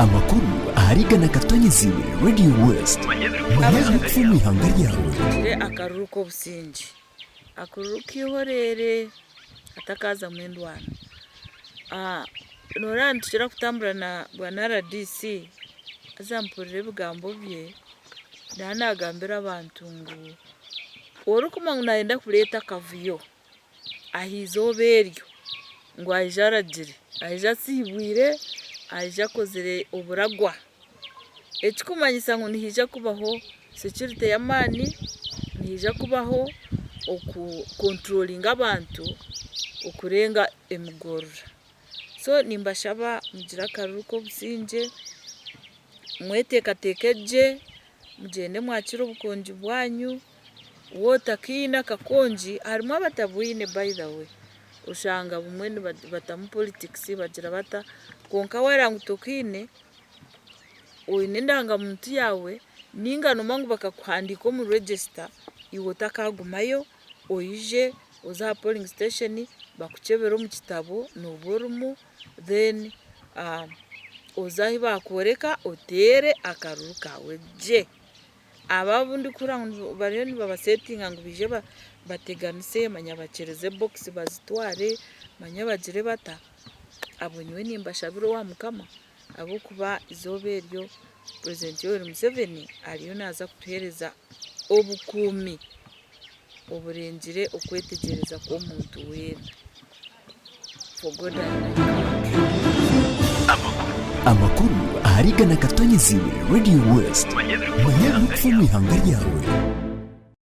Amakuru ahari igana agatonyeziibwe Radio West. Manya ebirikufa omu ihanga ryawe. Mpikire akaruru k'obusingye, akaruru k'eihoreere hatakaazamu endwano. Nooreeba nitukira kutambura na bwana rdc haza mpurira ebigambo bye naawe naagambira abantu ngu orikumanywa ngu naayenda kureeta akavuyo ah'eizooba eryo ngu aije aragire, aije asiibwire, aije akozire oburagwa, ekirikumanyisa ngu nihaija kubaho securite y'amaani, nihaija kubaho oku controllinga abantu okurenga emigoorora. So nimbashaba mugire akaruru k'obusingye, mweteekateeke gye, mugyende mwakire obukongi bwanyu. Water kiine akakongi harimu abatabwine by the way oshanga bumwe nibatamu politics bagira bata kwonka waba ngu tokiine oyine endanga muntu yawe ninga noba ngu bakakuhandika omu register iwe otakagumayo oyije oze aha polling station bakukyebere omu kitabo noba orimu then oze ahu bakworeka otere akaruru kawe gye. Abo abu ndikuhurira ngu bariyo nibabasetinga ngu baije bateganise manya bakyereze bokisi bazitware manya bagire bata, abo nyowe nimbashabira owa mukama ahabw'okuba eizooba eryo purezidenti Yoweri Museveni ariyo naaza kutuheereza obukuumi. oburengire okwetegyereza kw'omuntu weena. For God I am not. Amakuru ahari igana akatonye eziibwe Radio West. Manya ebirikufa omu ihanga ryawe.